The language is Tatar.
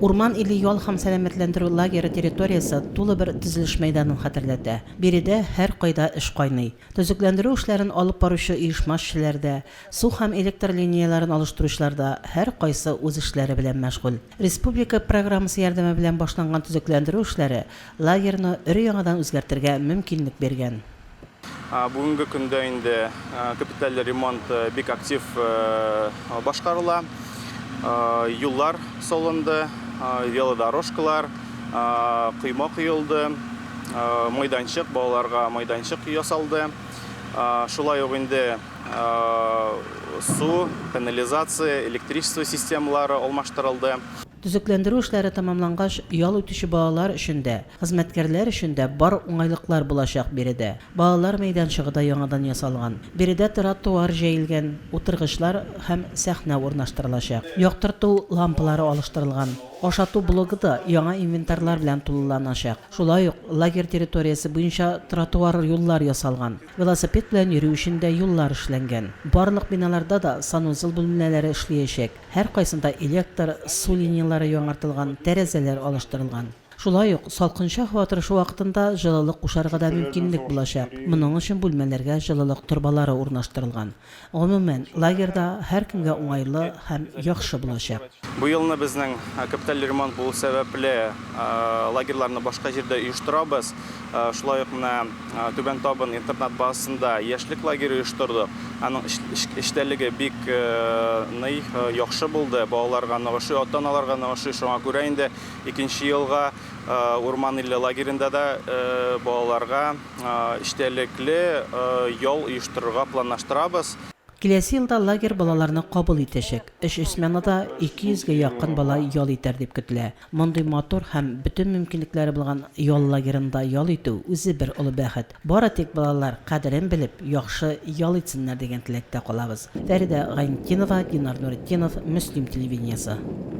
Урман иле ял һәм сәламәтләндерү лагеры территориясе тулы бер төзелеш мәйданын хәтерләтә. Биредә һәркайда эш кайный. Төзекләндерү эшләрен алып баручы оешма эшчеләре дә, су һәм электр линияләрен алыштыручылар да һәркайсы үз эшләре белән мәшгуль. Республика программасы ярдәме белән башланган төзекләндерү эшләре лагерьны өр-яңадан үзгәртергә мөмкинлек биргән. Бүгенге көндә инде капиталь ремонт бик актив башкарыла. Юллар салынды, велодорожкалар, койма коелды, майданчык, балаларга майданчык ясалды. Шулай ук инде су, канализация, электричество системалары алмаштырылды. Төзекләндерү эшләре тәмамлангач, ял итүче балалар өчен дә, хезмәткәрләр өчен дә бар уңайлыклар булачак биредә. Балалар мәйданчыгы да яңадан ясалган. Биредә тротуар җәелгән, утыргычлар һәм сәхнә урнаштырылачак. Яктырту лампалары алыштырылган. Ашату блогы да яңа инвентарьлар белән тулыланачак. Шулай ук лагерь территориясе буенча тротуар юллар ясалган. Велосипед белән йөрү өчен дә юллар эшләнгән. Барлык биналарда да санузел бүлмәләре эшлиячәк. Һәркайсында электр, су линияләре яңартылган, тәрәзәләр алыштырылган. Шулай ук, салкынча һава торышы вакытында җылылык кушарга да мөмкинлек булачак, моның өчен бүлмәләргә җылылык торбалары урнаштырылган. Гомумән, лагерь да һәркемгә уңайлы һәм яхшы булачак. Бу елны безнең капиталь ремонт булу сәбәпле, лагерьларны башка җирдә оештырабыз. Шулай ук менә. Түбән Табын интернат базасында яшьлек лагере оештырдык. Аның эчтәлеге бик ный, яхшы булды. Балаларга ныгышы, ата-аналарга ныгышы. Шуңа күрә инде икенче елга Урман иле лагеренда да балаларга эчтәлекле ял оештырырга планлаштырабыз. Киләсе елда лагерь балаларны кабул итәчәк. Өч сменада 200 гә якын бала ял итәр дип көтелә. Мондый матур һәм бөтен мөмкинлекләре булган ял лагерында ял итү, үзе бер олы бәхет. Бары тик балалар, кадерен белеп, яхшы ял итсеннәр дигән теләктә калабыз. Фәридә Гайнетдинова, Динар Нуретдинов, Мөслим телевидениесе.